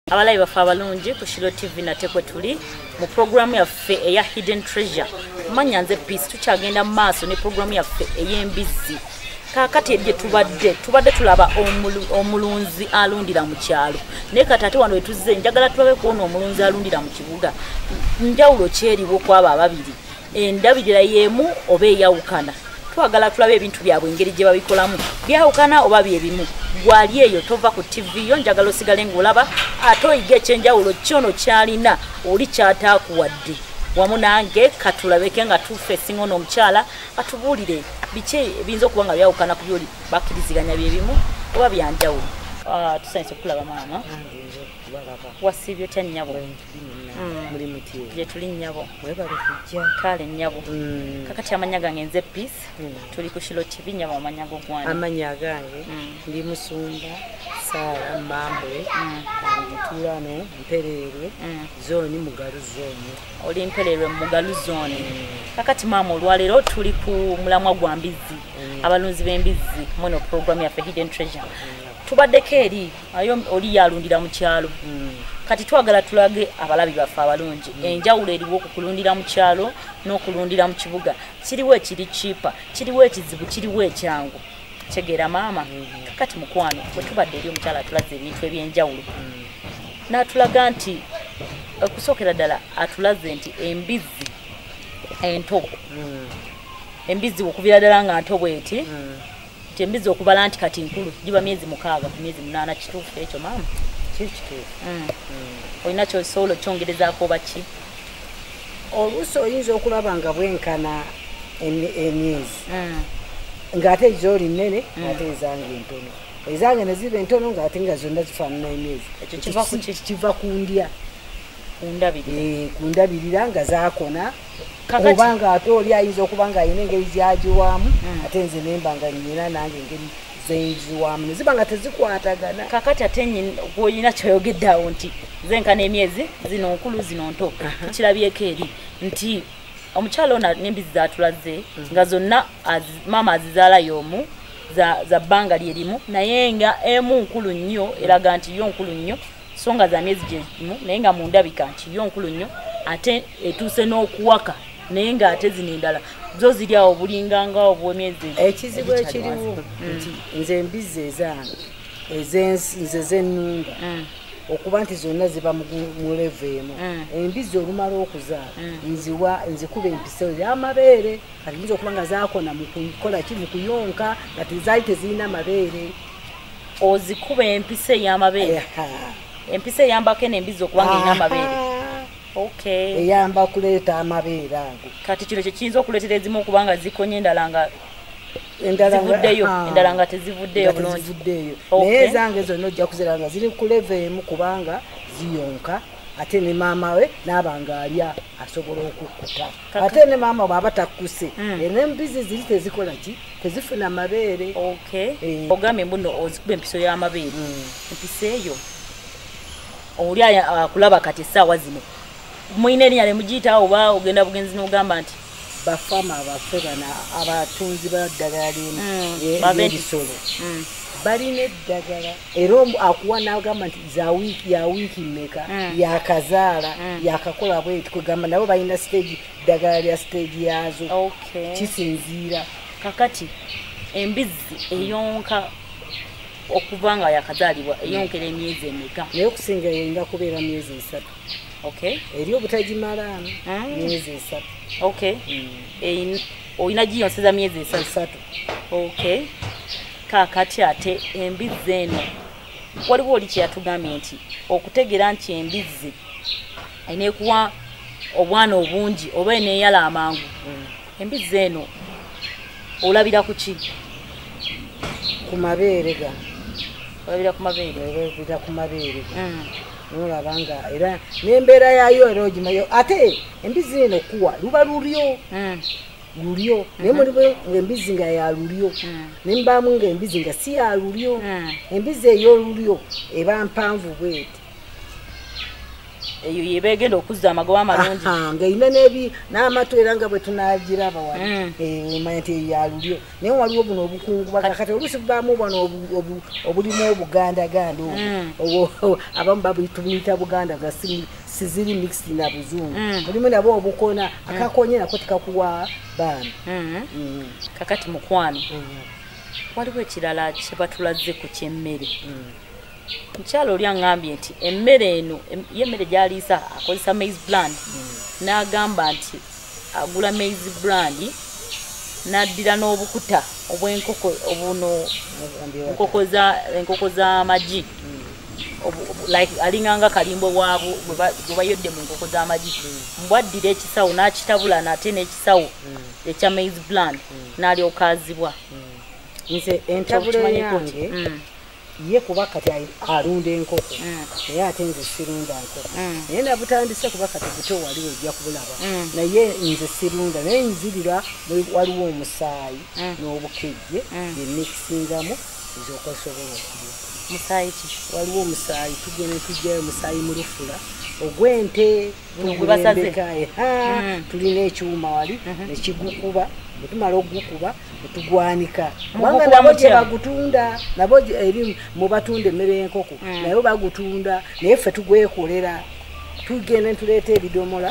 abalayi baffe abalungi ku shilo tv nate kwe tuli mu puroguramu yaffe eya hidden treasure manya nze peace tukyagenda mu maaso ne puroguramu yaffe ey'embizzi kakati ebye tubadde tubadde tulaba omulunzi alundira mu kyalo naye kati ate wano wetuzze njagala tulabe kuona omulunzi alundira mu kibuga njawulo kyeriwo kwabo ababiri endabirira y'emu oba eyawukana twagala tulabe ebintu byabwe engeri gye babikolamu byawukana oba byebimu gwali eyo tova ku tivi yo njagala osigale ngaolaba ate oyiga ekyenjawulo kyono kyalina oli kyataakuwadde wamu nange katulabeke nga tufe esinga ono omukyala atubuulire biki ebiyinza okuba nga byawukana ku byoli bakkiriziganya byebimu oba byanjawulo ah, tusanyisa okulaba maama wasiibye otya nnyabo gyetuli nyabo kale nyabo mm. kakati amanya gange nze peace mm. tuli ku kilo tv nyabo amanya go gwana amanya gange mm. ndi musumba sara mambule ntulano mpererwe zoni mugalu zoni oli mpererwe mugalu zoni kakati mama olwalero tuli ku mulamwa gwa mbizzi abalunzi b'embizzi muno program yaffe hidden treasure tubaddeko eri ayo oli yalundira mu kyalo hmm. kati twagala tulage abalabi baffe abalungi hmm. enjawulo eriwo ku kulundira mu kyalo n'okulundira mu kibuga kiriwo ekiri kipa kiriwo ekizibu kiriwo ekyangu kitegeera maama hmm. kakati mukwano bwe tubadde eri omukyala atulaze ebintu ebyenjawulo n'atulaga nti okusookera ddala atulaze nti embizzi ento embizzi okuviira ddala nga nto bweti tembiza okubala nti kati nkulu giba myezi mukaaga ku myezi munaana kituufu ekyo maama mm. olina kyosobola okyongerezaako oba ki oluusi oyinza okulaba nga bwenkana emyezi mm. ng'ate gyoli nnene mm. ate ezange entono ezange ne ziba entono ng'ate nga zonna zifaanana emyezi kiva ku ndya ku ndabirira eh, nga zakona oba nga ate oli ayinza okuba nga alina engeri gyagiwaamu hmm. ate nze nemba nga nyina nange engeri zenziwamu neziba nga tezikwatagana kakati ate olina kyoyogedde awo nti zenkana emyezi zino nkulu zino nto tukirabyeko eri nti omukyala ona nembizi zatulaze hmm. nga zonna maama azizaala yomu za bbanga lyerimu naye nga emu nkulu nnyo eraga nti yo nkulu nnyo so nga za myezi gyezimu naye nga mu ndabika nti yo nkulu nnyo ate etuuse n'okuwaka naye ng'ate zino endala zo ziri awo bulinganga obwemyezi ekizibu ekiriwo mm. nti nze embizzi ezange nze zennunda mm. okuba nti zonna ziba mulevu emu mm. embizzi olumala okuzaala nziwa nzikuba empiso yamabeere kati nyinza okuba nga zakona mukukola ki mukuyonka nga tezali tezirina mabeere ozikuba empisa eyamabeere empisa eyambako eno embizi okubanga erina amabeere eyamba okuleeta amabeere ago kati kino kyekiyinza okuleetera ezimu okubanga zikonye endala nga zivuddeyo endala nga tezivuddeyo bulungivuddeyo naye ezange zonna ojja kuzira nga ziri kuleva emu kubanga ziyonka ate ne maama we naaba nga alya asobola okukkuta ate ne maama bwaba takkuse hmm. eh, nembizi ziri tezikola ki tezifuna mabeere eh. ogambye mbuno ozikuba empiso y'amabeere hmm. empiso eyo oli akulaba kati essaawa zino mulina erinya lemugiyita oba ogenda bugenzi nogamba nti bafama baffe bana abatunzi baddagala lyebisolo hmm. balina eddagala era omu akuwa nagamba nti za wiiki ya wiiki mmeka mm. yakazaala mm. yakakola bweti kwegamba nabo balina stage ddagala lya stage yaazo kisinziira kakati embizzi eyonka okuva nga yakazaalibwa mm. eyonkera emyezi emeka naye okusinga yeyinga kubeera myezi esatu eri obutagimalaano myezi esatu olina giyonseza myezi esatu okay kakati ate embizzi eno waliwo oli kyeyatugambye nti okutegeera nti embizzi enekuwa obwana obungi oba eneyala amangu mm. embizzi eno olabira ku ki ku mabeere ga olabira ku mabeere olabira ku mabeere ga mm. nolaba nga era nembeera yayo era ogimayo ate Embizi eno kuwa luba lulyo. Mm. Lulyo. Mm -hmm. Naye mulimu embizi nga ya lulyo. Mm. Ne mbamu nga embizi nga si ya lulyo. Mm. Embizi eyo lulyo eba mpanvu bweti. Eyo yebegenda okuzza amagoba amalungi. Ah, nga ina nebi na amatu era nga bwetunagira abawa. Mm. Eh, manya te ya lulyo. Naye waliwo buno obukungu bakakate olusi bamu bano obulimu obuganda gando. Mm. Obo abamu babu itubita buganda gasimi. siziri mixed na buzungu mm. mulimu nabo obukona mm. akakonye nako tekakuwa baana mm-hmm. mm. kakati mukwano waliwo ekirala kyebatulaze ku kyemmere mukyalo oli aŋambye nti emmere eno ye emmere gyaliisa akozesa maize brand n'agamba nti agula maize brand n'addira n'obukuta obw'enkoko obuno enkoko z'amagi like alinga nga kalimbo waabo gwe bayodde mu nkoko z'amagi mm. mbwaddira ekisawo n'akitabula nate n'ekisawo mm. ekya maiz bland mm. n'alyoka azibwa nze entabula yange ye kuba kati alunda enkoko naye ate nze sirunda nkoko naye nabutandise kuba kati buto waliwo ojja kubulaba naye nze sirunda naye nzirira waliwo omusaayi n'obukejje bye mikisingamu mm. nze okwasobola okulya musaayi ki waliwo omusaayi tugenda tujjayo omusaayi mu lufula ogw'ente gwebasazeekaye mm. tulina ekyuma wali mhm. nekigukuba bwetumala okugukuba netugwanika kubanga nabo gyebagutunda nabo eri mubatunda emmere y'enkoko mm. naye bagutunda naye ffe tugwekolera tugenda netuleeta ebidomola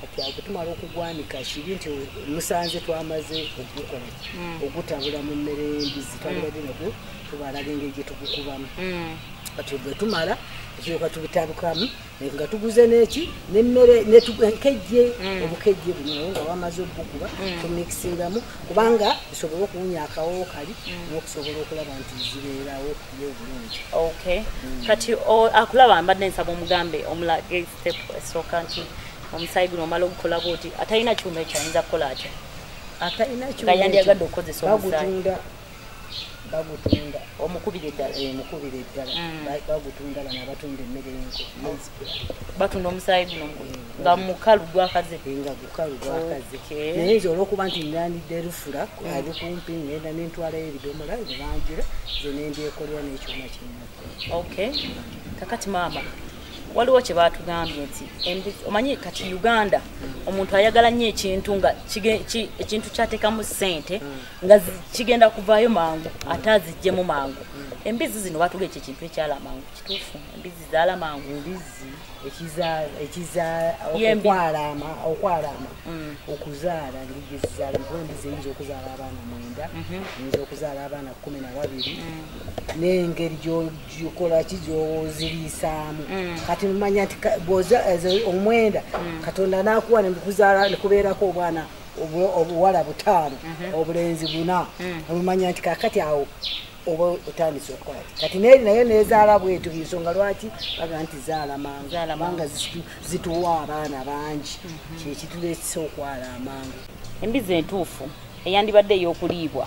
kati awo tumala okugwanika kibi nti musanze twamaze okugukola mm. ogutabula mu mmere y'embizi twalibadde mm. nago tubalaga engeri gye tugukubamu mm. kati bwe tumala ekyoka tubitabukamu nga tuguze neki nemmere nenkejje obukejje buno naye nga wamaze obugukuba tumikisingamu kubanga bisobole okuwunya akawowo kali nokusobola okulaba nti zibeerawo ye obulungi kati akulaba mbadde nsaba omugambe omulagezi step esooka nti omusaayi guno omala ogukola bwoti atalina kyuma ekyo ayinza kukola atya atalina kyuma nga yandyagadde okukozesa omusaayi bagutunda omukubira eddala eh, mukubira eddala mm. bagutunda bana abatunda emmere batunda omusaayi guno eh, nga mukalu gwakaze eh, nga gukalu gwakaze naye nze olwokuba nti ngandidde lufula mm. ali kumpi ngenda nentwalayo ebidomola nebanjira ze nendyekolera n'ekyuma kinna okay kakati maama waliwo kye baatugambye nti omanyi kati uganda omuntu ayagala nnyo ekintu nga ekintu kyateekamu ssente nga kigenda kuvaayo mangu ate aziggyemu mangu embizzi zino baatuga ekyo ekintu ekyala mangu kituufu embizzi zaala mangu embizzi ekizaokwalaama okwalaama mm. okuzaala ngigizaala nkuba embizzi eyinza okuzaala abaana mwenda mhm. eyinza okuzaala abaana kumi na babiri mm. n'engeri gikola ki gyoziriisaamu mm. kati mumanya nti bwoza omwenda mm. katonda nakuwa nekuzaala nekubeerako obwana obuwala butaano mm-hmm. obulenzi buna mm. omumanya nti kakati awo oba otandise okukola kati neri naye nezaala bwetu ensonga lwaki baga nti zaala manguanga zituwa abaana bangi mm-hmm. kyekitulekisa okwala amangu embizi entuufu eyandibadde eyokuliibwa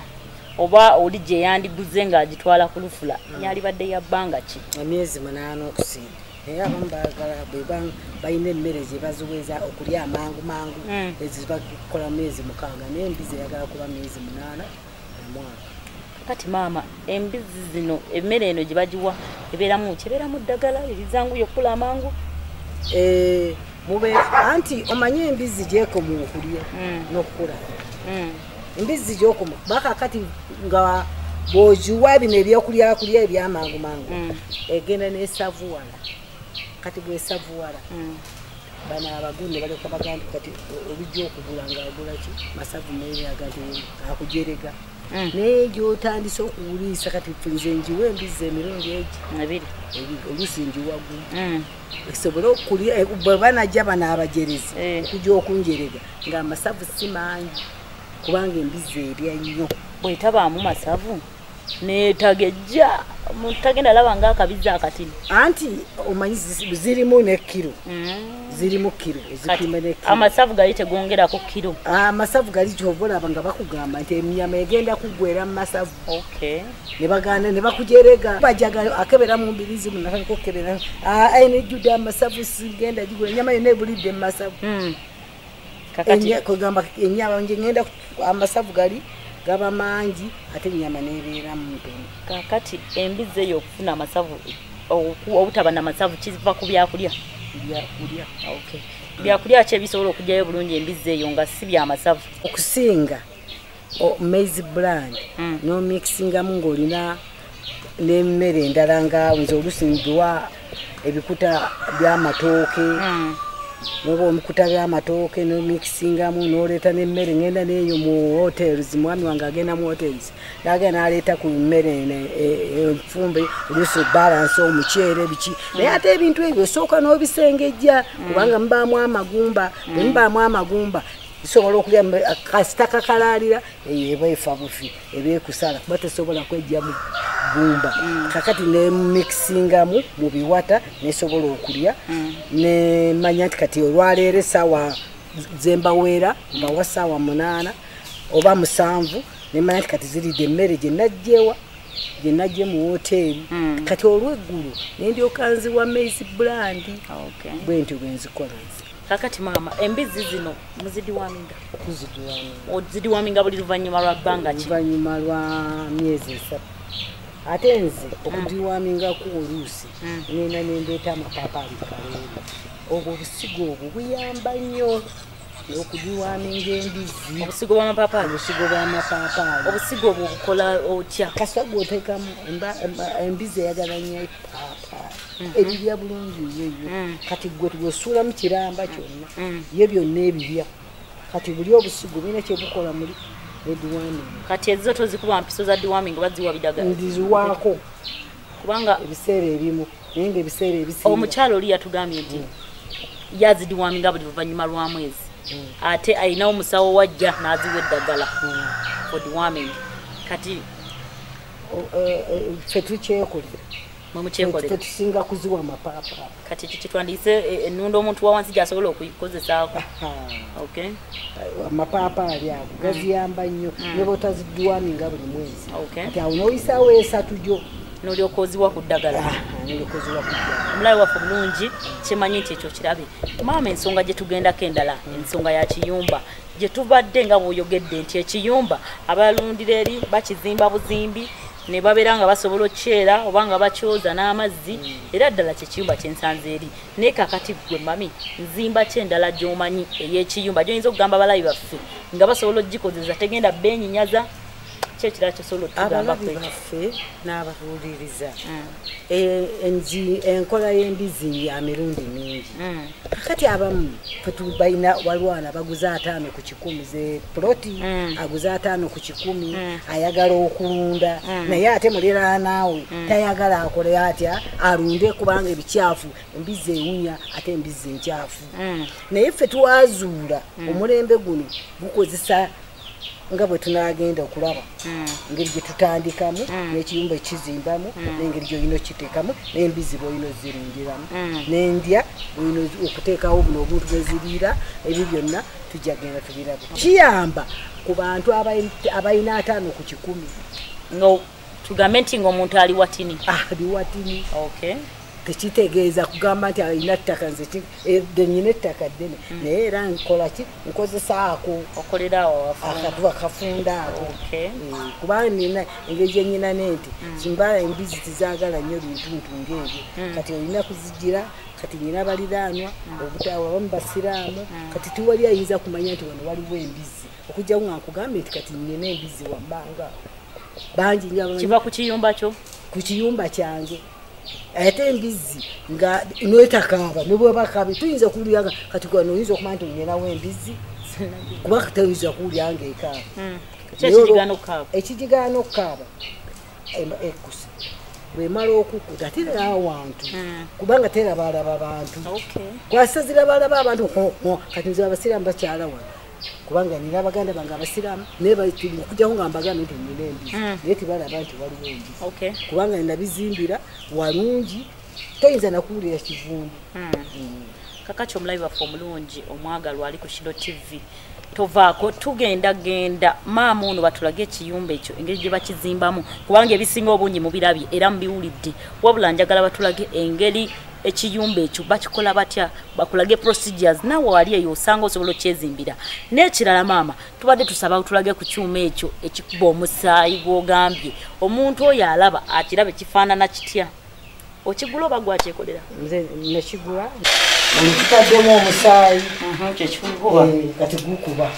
oba oli gye yandiguze ng'agitwala ku lufula hmm. yalibadde ya bbanga ki emyezi munaana okusinga naye abamu bagala bweba balina emmere gye baziweza okulya amangu mangu hmm. ezibakola myezi mukaaga naye embizi eyagala kuba myezi munaana omwaka kati maama embizzi zino emmere eno gye bagiwa ebeeramu kyebeeramu ddagala erizangu yokkula amangu eh, mube anti omanye embizzi gyekoma okulya hmm. nokukula hmm. embizzi gyokoma bakakati nga bwogiwa bino ebyokulyakulya ebyamangu mangu hmm. egenda nesavuwala kati bwesavuwala bano abagunde balyoka bagandi kati olujja okugula ngaagulaki masavu naye aganti akujerega Mm. naye gyotandise okuwuliisa kati nze njiwa embizzi emirundi egi ebiri oluusi njiwagu mm. esobole okulya eh, bwebanajja bana abajerezi eh. okuja okunjerega nga amasavu si mangi kubanga embizzi erya nnyo bwetabaamu masavu netagejja omuntu tagenda laba nga akabizi akatini anti omanyi zirimu nekiro mm. zirimu kiro ezipima ne kiro amasavu gali tegongera ku kiro ah, amasavu gali kyova olaba nga bakugamba nti enyama egenda kuggwera mu masavu ne baganda ne bakujerega bajaga akebera mu mbiri zimu nakalika okukebera ah, aina ejjudde amasavu sigenda gigula enyama yonna ebulidde mu masavu hmm. kakati kwegamba enyama nje ngenda amasavu gali gaba mangi ate enyama nebeera mumpene kakati embizzi eyo okufuna amasavu obutaba namasavu kiva ku byakulya byakulya okay byakulya ki ebisobola okugyayo bulungi embizzi eyo nga si byamasavu okusinga maize brand mm. no mixingamu ng'olina n'emmere endala nga nze olusi nduwa ebikuta byamatooke mm. noba omukuta byamatooke nomikisingamu noleeta nemmere ngenda neeyo mu hotels mwami wange agenda mu hotels nagenda naleeta ku mmere e, enfumbe olusi balance omuceere biki mm. naye ate ebintu ebyo osooka nobisengejja mm. kubanga mubaamu amagumba bwemubaamu amagumba sobola okulya kasita kakalaalira eyo eba efa bufi eba ekusala kuba tesobola kwejja mu gumba mm. kakati nemikisingamu mu biwata nesobola okulya mm. nemanya nti kati olwaleero esaawa zembaweera mbawa saawa munaana oba musanvu nemanya nti kati ziridde emmere gyenajjewa gyenajje mu woteeri mm. kati olweggulu nendyokanziwa maize brandi bwentyo bwenzikola nze kakati maama embizzi zino muzidiwaminga ozidiwaminga buli luvannyuma lwa bbanga ki luvannyuma lwa myezi esatu ate nze mm. okudiwamingaku oluusi mm. nina nendeeta amapapa alikaleero obwo obusigo obwo buyamba nnyo okudiwaminga embizzi obusigo bwamapapali obusigo bwamapapali obusigo obwo obukola otya kaswa gwoteekamu embizzi eyagala nnyo epapaali mm-hmm. ebibya bulungi yoyo mm. kati gwe wesuulamu kiramba kyonna mm. ye byonna ebibya kati buli obusigo bina kyebukola muli ediwaming kati ezizo tozikuba mpiso za diwaming oba ziwa bidaga ndiziwaako kubanga ebiseera ebimu naye nga ebiseera ebisi omukyalo oli yatugambye nti mm. yazidiwaminga buli luvannyuma lwa mwezi mm. ate alinawo musawo wajja n'aziwa eddagala mm. for dewarming kati e, e, ffe tukyekolera tetusinga kuziwa mapapa kati kikitwandiyise e, e, enunda omuntu wawansi gyasobola okukozesako amapapa ali ago mm. gaziyamba nnyo mm. nebotaziduwani nga buli mwezi ati awo noyisawo esatu gyo nolyoka oziwa ku ddagala ah, ah, omulabe waffe bulungi kyemanyi nti ekyo kirabe maama ensonga gyetugendako endala mm. ensonga ya kiyumba gyetubadde nga bwoyogedde nti ekiyumba abalundira eri bakizimba buzimbi ne babeera nga basobola okukyera oba nga bakyoza n'amazzi mm. era ddala kyekiyumba kyensanze eri naye kakati gwe mami nzimba ky endala gy'omanyi ey'ekiyumba gyoyinza okugamba abalabi baffe nga basobola okugikozeza tegenda beenyinyaza kyekirala kyosobola okugamba baffe n'ababuuliriza mm. Eh, enzi enkola y'embizi ya mirundi mingi mm. kakati abamu fetubalina walwana baguza ataano ku kikumi ze ploti mm. aguza ataano ku kikumi mm. ayagala okulunda naye ate muliraanaawe tayagala akole atya alunde kubanga ebikyafu embizi ewunya ate embizi enkyafu naye fe twazuula omulembe guno gukozesa nga bwe tunagenda okulaba hmm. engeri gye tutandikamu hmm. n'ekiyumba ekizimbamu hmm. n'engeri gyolina okiteekamu n'embizi bwolina ozirindiramu n'endya olina okuteekawo buno obuntu bweziriira ebyo byonna tujja genda tubirabu kiyamba ku bantu abalina ataano ku kikumi tugambe nti ngaomuntu ali watini ali watini tekitegeeza kugamba nti alina ttaka nze eh, genyina ettaka ddene hmm. naye era nkolaki nkozesa ako akakuba kafunda ako eh, kubanga nina engeri gyenyina ne nti hmm. kimbala embizi tizagala nnyo bintuntu ngaebyo hmm. kati olina kuzigira kati nyina baliraanwa obutawa bamu basiraamu kati tiwali ayinza kumanya nti wano waliwo embizi okujjawo nga nkugambye nti kati nyina embizi wammanga bangi nyo kiva ku kiyumba kyo ku kiyumba kyange ate embizzi nga netakaaba nebwebakaaba tuyinza okuwuliraga kati gano oyinza okumanya nti onyenawo embizzi kuba toyinza kuwulira nga ekaaba hmm. ekigigaana okukaaba ekusa bwemala okukuta terera awantu hmm. kubanga terabalaba bantu kwasazira balaba abantu kati nze abasiraamu bakyala wano kubanga nina abaganda bange abasiraamu naye okujjako nga mbagambye nti nina embizi mm. naye tebalaba nti waliwo embizi kubanga nabizimbira walungi toyinza nakuwulira kivundu mm. mm. kakaki omulabi waffe omulungi omwagalwa ali ku shiro tv tovaako tugenda genda maama ono batulage ekiyumba ekyo engeri gye bakizimbamu kubanga ebisinga obungi mubirabye era mubiwulidde wabula njagala batulage engeri ekiyumba ekyo bakikola batya bakulage procedures nawe wali eyo osanga osobola okyezimbira n'ekirala maama tubadde tusaba tulage ku kyuma ekyo ekikuba omusaayi gwogambye omuntu oyo alaba akiraba ekifaanana kitya okigula oba gwakyekolera nze nekigula ekitaddemu omusaayi mhm, kyekikuba eh, kati gukuba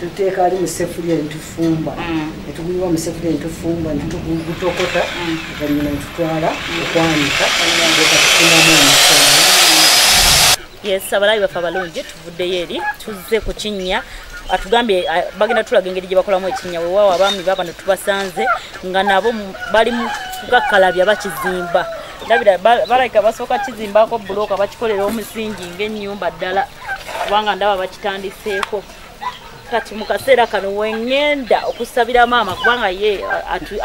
tuteeka ali musefuliya netufumba mm. netuguyiwa musefuliya netufumba netugutokota mm. oluvanyuma netutwala mm. okwanika ekatufunamu omusomo yes abalabi baffe abalungi tuvuddeyo eri tuzze ku kinnya atugambye bagenda tulaga engeri gye bakolamu ekinnya wewaawo abaami baba netubasanze nga nabo bali kukakkalabya bakizimba ndabira balabika basooka kizimbako bulooka bakikolera omusingi ngaennyumba ddala kubanga ndaba bakitandiseeko kati mu kaseera kano wengenda okusabira maama kubanga ye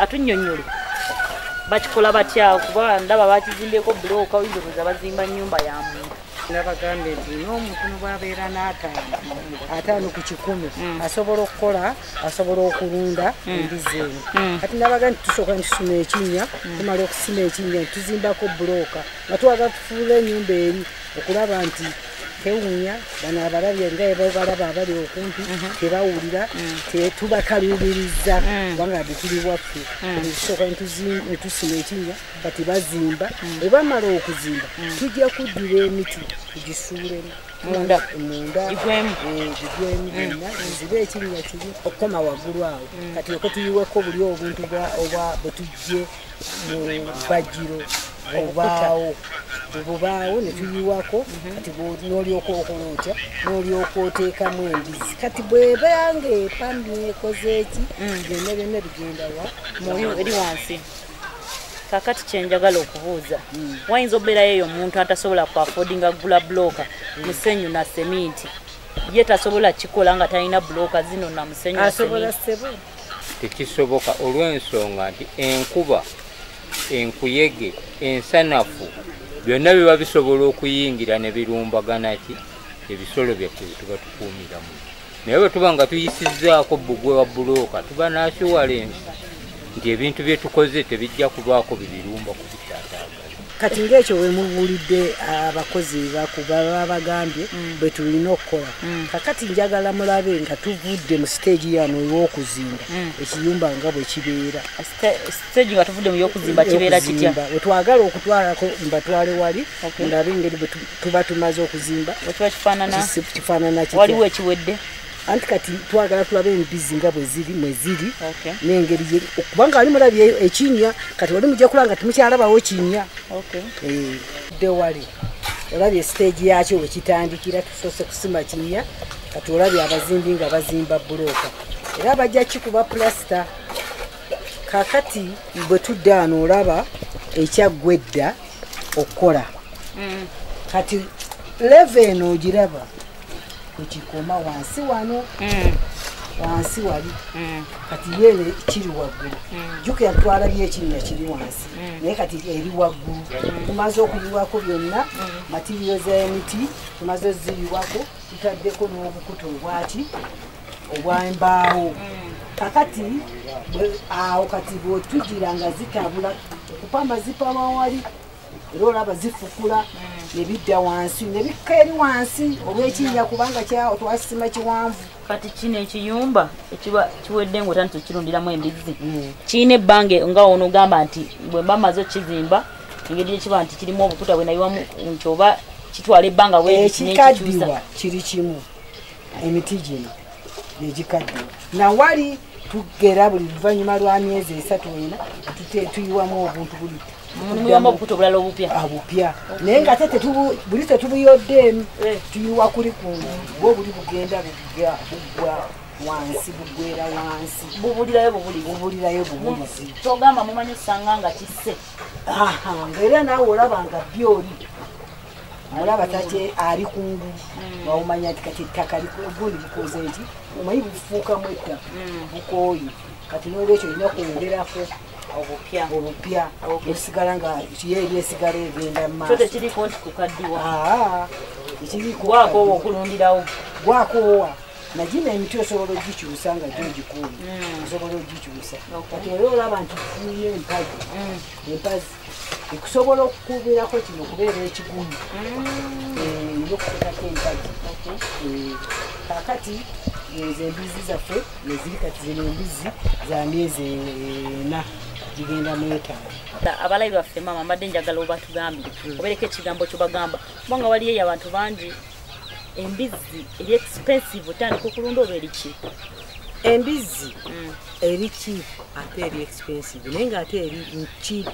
atunyonyole bakikola batya kuba ndaba bakizimbyeko bulooka oyinza okuza bazimba nyumba ya muntu nabagambye nti n'omuntu nobwabeera n'ataano ataano ku kikumi mm. asobola okukola asobola okulunda mm. embizi eno mm. kati nabaga nti tusooka nitusima ekinnya tumala okusima ekinnya nituzimbako bulooka nga twagala tufuula enyumba eri okulaba nti tewunya bano abalabye nga ebabalaba abali okumpi mhm. tebawulira mm. tubakaluubiriza mm. kubanga detuli waffe mm. ekisooka netusima ekinya kati bazimba ebamala okuzimba tujja kuddira emiti tugisuulemu munda munda igwemu igwemu eh, mm. na zibe ekinya kiri okoma wagulu awo mm. kati oko tuyiweko buli obuntu bwa obwa butujje bajiro obaawo obubaawo netuyiwako mhm. kati nolyoka okola otya nolyoka oteekamu embizi kati bwebanga epambi ekozeeki mm. byonna byonna bigenda wa eri wansi kakati kyenjagala okubuuza mm. wayinza okubeerayo eyo omuntu atasobola ku afodinga gula buloka mm. musenyu na seminti ye tasobola kikola nga talina buloka zino na musenyu tekisoboka olw'ensonga nti enkuba enkuyege ensanafu byonna biba bisobola okuyingira ne birumbagana ki ebisolo byaffe byetuba tukuumiramu naye bwe tuba nga tuyisizzaako bbugwe wa bulooka tuba nakiwalensi nti ebintu bye tukoze tebijja kubaako bibirumba ku kati ngaekyo wemubulidde abakozi bakubaba bagambye mm. bwetulina okukola mm. kakati njagala mulabe nga tuvudde mu siteegi yano eyokuzimba mm. ekiyumba nga bwekibeera wetwagala okutwalako mbatwale wali ndabe engeri bwetuba tumaze okuzimba kifaanana kiwaliwo ekiwedde anti kati twagala tulabe embizi nga bweziri mweziri nengeri kubanga wali mulabye ekinya kati wali mujja kula nga temukyalabawo kinya eh, de wali olabye siteegi yakyo wekitandikira tusoose kusima kinya kati olabye abazimbi nga bazimba bulooka era bajja kikuba pulasita kakati bwe tuddaano olaba ekyaggwa edda okukola mm. kati leve eno ogiraba kwekikoma wansi wano mm. wansi wali mm. kati yene kiri waggulu mm. juka yatwala byekinnya kiri wansi naye kati eri waggulu tumaze okuyiwako byonna matiriyo zemiti tumaze oziyiwako tutaddeko n'obukuta obwaki obwembaawo kakati awo kati bwetujira nga zitabula okupamba zipama wali era olaba zifukula mm. nebidda wansi nebikka eri wansi olwekinnya kubanga twasima kiwanvu kati kino ekiyumba ekiba kiwedde nga otandisa okukirundiramu embizzi mm. kirina ebbanga nga ono ogamba nti bwemba maze okukizimba engeri gyekiba nti kirimu obukuta bwenayiwamu nti oba kitwala ebbanga wekikaddiwa kiri kimu emiti gino negikaddiwa nawali tugera buli luvannyuma lwa myezi esatu ena tuyiwamu obuntu buli mulimu obukuta obulala obupya obupya ah, naye nga ate buli tetubuyoddeemu eh. tuyiwa kuli ku bwo buli bugenda buggwa wansi bugwera wansi bubulirayo bubuli bubulirayo bubulizi kyogamba mumanyi osanga nga kisse ngaera naawe olaba nga byoli mulaba tate ali kungu mm. waumanya nti kati ettaka gundi likoze nti omanyi bufuukamu ettaka mm. bukooyi kati nolwekyo olina kwongerako obupya obupya osigala nga kiyo eri esigala egenda mumaasotekiriko nti kukaddiwa ekirikwakowa okulundirawo gwakoowa nagina emiti osobola ogikyusa nga gyogikuuma mm. osobola ogikyusa kati era olaba nti tufunye empazi empazi ekusobola okukuubirako kino okubeera ekigumu mm. eh, nokutekako empagi eh, kakati ezo embizzi zaffe neziri kati zino embizzi za myezi ena gigenda mwetano abalayi baffe maama mbadde njagala obatugambire mm. obereko ekigambo kyobagamba kubanga waliyo eyo abantu bangi embizzi eri expensive otandika okulunda oba eriki embizzi mm. eri cheap ate eri expensive naye ngaate eri cheap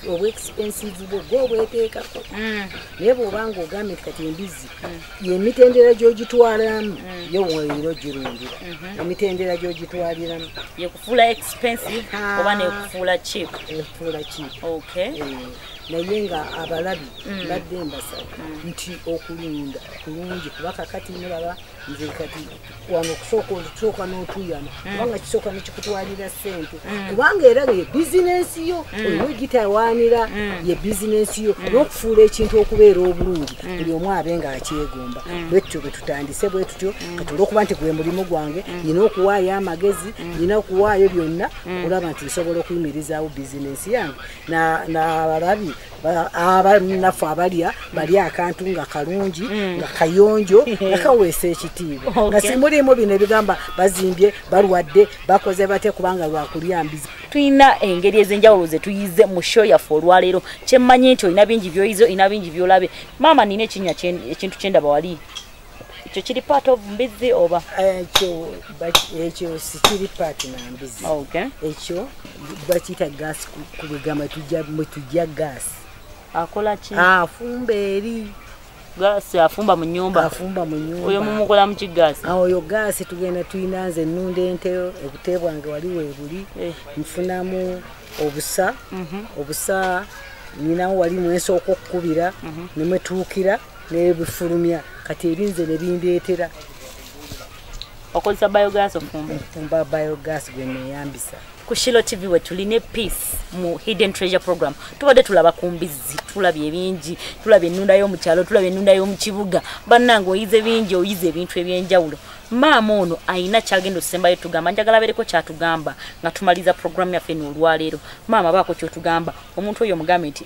obwa expensive bwo gwe obweteekako mm. naye bwobanga ogambye nti kati embizzi mm. yemitendera gyogitwalamu yo weero girundira mm-hmm. emitendera gyogitwaliramu yekufuula expensive ah. oba nekufuula cheap ekufuula cheap okay eh. naye nga abalabi mbadde mbasaba nti okulunda kulungi kubakakati mulaba nze kati wano okusooka olusooka n'otuyana mm. kubanga kisooka nekikutwalira ssente mm. kubanga era ye bizinensi yo mm. olina ogitawaanira ye bizinensi yo n'okufuula ekintu okubeera obulungi buli omu abe nga akyegomba bwe tutyo bwe tutandise bwe tutyo kati olwokuba nti gwe mulimu gwange nina okuwaayo amagezi nina okuwaayo byonna olaba nti nsobola okuyimirizaawo bizinensi yange nabalabi abanaffe abalya bali akantu nga kalungi mm. nga kayonjo nga kaweesa ekitiibwa nga simuliimu bino ebigamba bazimbye balwadde bakoze bate kubanga lwakulya mbizi tulina engeri ez'enjawulo ze tuyize mu sho yaffe olwaleero kyemmanyi nti olina bingi byoyize olina bingi byolabe maama nina ekinya ekintu kyendaba wali ekyo kiri part of mbizi oba ekyo ekyo sikiri part na mbizi okay ekyo bakiyita gas kubigamba tujja mwe tujja gas akola ki afumba eri gaasi afumba mu nyumba afumba mu nyumba oyo mumukola mu kigaasi awo oyo gaasi tugenda tulina nze ennunda ente obute bwange wali weebuli eh. nfunamu obusa mhm. obusa nyinawo wali mwensooka okukubira mhm. nemwetuukira nebifulumya kati ebinze nebindeetera okozesa biogas ofumba ofumba biogas gwe neyambisa ku shilo tv we tuline peace mu hidden treasure program tubadde tulaba ku mbizzi tulabye ebingi tulabye ennunda y'omu kyalo tulabye ennunda y'omu kibuga bannange oyize bingi oyize ebintu eby'enjawulo maama ono ayina kyagenda okusembayo tugamba njagala abeereko kyatugamba nga tumaliza program yaffe eno olwaleero maama baako kyotugamba omuntu oyo omugambe nti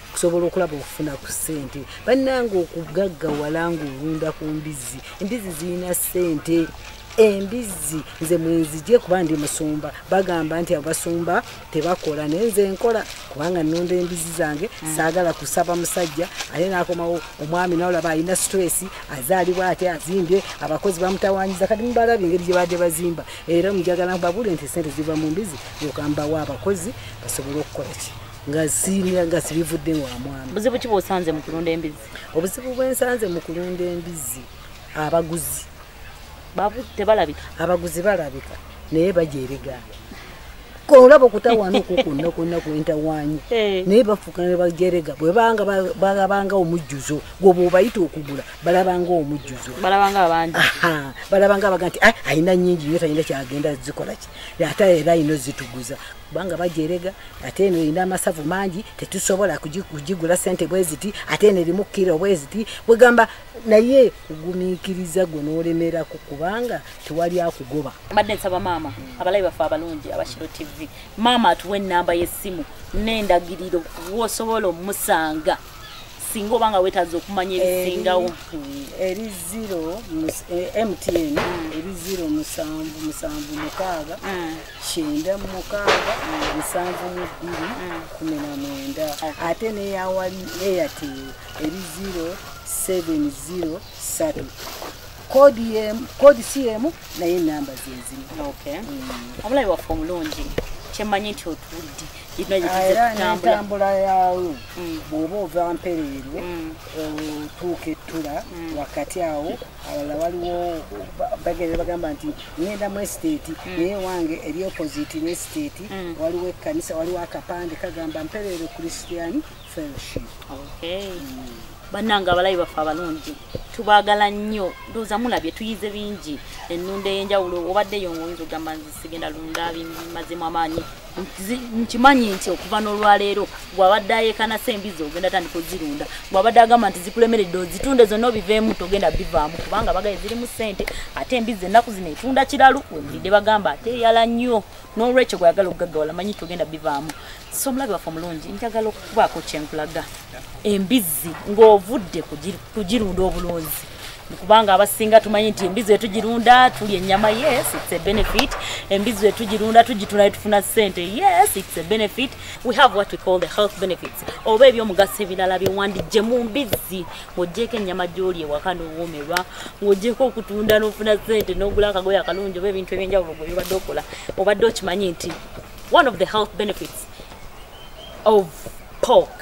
okusobola okulaba okufuna ku ssente bannanga okugaggawala ng'olunda ku mbizzi embizzi zirina ssente embizzi nze mwenzije kuba ndi musumba bagamba nti abasumba tebakola naye nze nkola kubanga nunda embizzi zange mm. saagala kusaba musajja aye nakomawo omwami nawolaba alina stress azaalibwa ate azimbye abakozi bamutawanyiza kati mubalaba engeri gyebadde bazimba era mujagala babule nti sente ziva mu mbizi yokambawo abakozi basobole okukola ki nga siimira nga sibivudde wa mwami buzibu ki bwosanze mu kulunda embizzi obuzibu bwensanze mu kulunda embizzi abaguzi tebalabika abaguzi balabika naye baja ebigambo kolaba okutawaana okwo kwonna kwonna kwentawaanyi eh. naye bafuuka ne bajerega bwebanga balabanga omujjuzo gwoba obayita okugula balabanga omujjuzo balabanga abaga nti ah, alina nyingi nyo talina kyagenda zikolaki ate era alina ozituguza kubanga bajerega ate eno erina amasavu mangi tetusobola kugigula sente bweziti ate eno erimu kiro bweziti bwegamba naye kugumikiriza gwe nolemeraku kubanga tewali akugoba mbadde nsaba maama abalabi baffe abalungi abakiro tv maama atuwa enamba yesimu nendagiriro wosobola omusanga singa obanga wetaza okumanya ebisingawo eri zero eh, mtn eri zero musanvu musanvu mukaaga mm. kyenda mu mukaaga musanvu mu bbiri kumi na mwenda ate neyawali airtel eri zero seven zero satu kodi yemu kodi si yemu naye enamba zezimu mm. omulabi waffe omulungi kyemanyi nti otudde era nentambula yawo mm. bwoba ova mpereerwe mm. otuuka ettula wakati awo abalala waliwo bagenda bagamba nti ngenda mu estate mm. naye wange eri opposite ne estate mm. waliwo ekkanisa waliwo akapande kagamba mpereere christian fellowship mm. bannange abalayi baffe abalungi tubaagala nnyo ndooza mulabye tuyize bingi ennunda ey'enjawulo obadde yo ngaoyinza okugamba nzi sigenda lunda bimazemu amaanyi nkimanyi nti okuva n'olwaleero bwabadde ayekanasa embizi ogenda tandika ozirunda bwabadde agamba nti zikulemeredde ozitunde zonna obiveemu togenda bivaamu kubanga bagaye zirimu sente ate embizi ennaku zino etunda kiralu webulidde bagamba ate eyala nnyo n'olwekyo gweyagala okugaggawala manyi togenda bivaamu so omulabi waffe omulungi njagala okubaako kyenkulaga embizi ng'ovudde kugirunda obulunzi kubanga abasinga tumanyi nti embizi etugirunda tuli enyama yes it's a benefit embizi etugirunda tugitunda tufuna sente yes it's a benefit we have what we call the health benefits oba ebyomugaso ebirala byewandijje mu mbizi ng'ogyeko ennyama gyoli ewaka n'owoomerwa ng'ogyeko okutunda n'ofuna sente n'ogula akagoyo akalungi oba ebintu ebyenjawulo gwe bibadde okola obadde okimanyi nti one of the health benefits of pork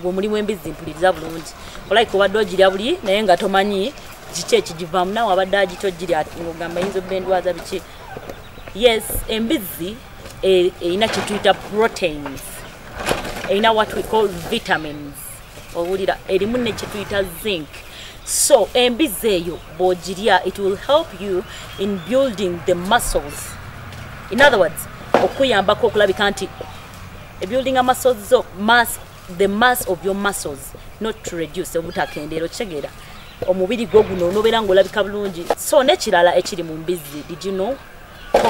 gwe omulimu embizzi mpuliriza bulungi olaika obadde ogirya buli naye nga tomanyi kiki ekigivaamu nawe abadde agita ogirya ogamba yinza obba endwaza biki yes embizzi e, erina kyetuyita proteins erina what we call vitamins owulira erimu nekyetuyita zinc so embizzi eyo bwogirya it will help you in building the muscles in other words okuyambako okulabika nti e building a muscles zo mass the mass of your muscles not to reduce obutakendero chegera omubiri gwo guno onobera ngo labika bulungi so ne kirala ekiri mu mbizzi did you know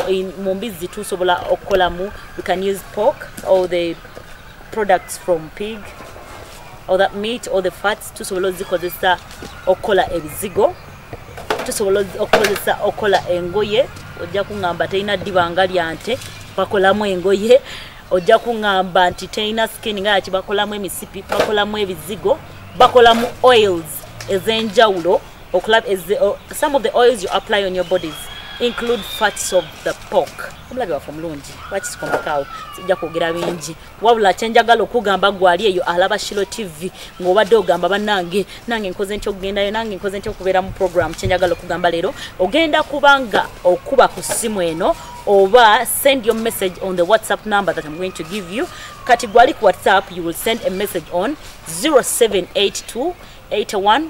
in mu mbizzi tusobola okolamu we can use pork or the products from pig or that meat or the fats tusobola ozikozesa okola ebizigo tusobola okukozesa okukola engoye ojja kuŋŋamba terina ddibanga lya nte bakolamu engoye ojja kuŋŋamba nti terina skin nga yaki bakolamu emisipi bakolamu ebizigo bakolamu oils ez'enjawulo okulaba some of the oils you apply on your bodies include fats of the pork omulabi waffe omulungi wakisikondakaawo sijja kwogera bingi wabula kyenjagala okugamba gwali eyo alaba shilo tv ngaobadde ogamba banange nange nkoze ntya okugendayo nange nkoze ntya okubeera mu program kyenjagala okugamba leero ogenda kubanga okuba ku simu eno oba send your message on the whatsapp number that im going to give you kati gwali ku whatsapp you will send a message on 0782 81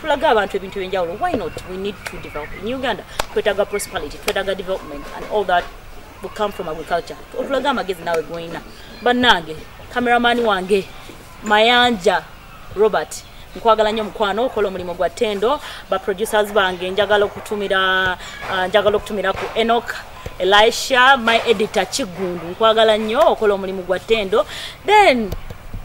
tulaga abantu ebintu ebyenjawulo why not we need to develop in uganda twetaga prosperity twetaga development and all that will come from agriculture otulaga amagezi nawe gwolina bannange kameramani wange mayanja robert nkwagala nnyo mukwano okola omulimu gwa tendo baproducers bange njagala okutumira uh, njagala okutumira ku enok Elisha my editor Kigundu nkwagala nnyo okola omulimu gwa tendo then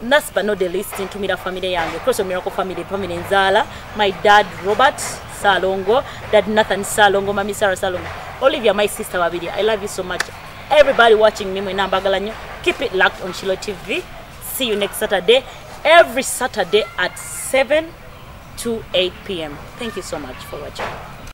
last but not the least ntumira family yange cross of miracle family family nzala my dad Robert Salongo dad Nathan Salongo mami Sarah Salongo Olivia my sister babiri I love you so much everybody watching me mwena mbagala nnyo keep it locked on Shiloh TV see you next Saturday every Saturday at 7 to 8 p.m. Thank you so much for watching.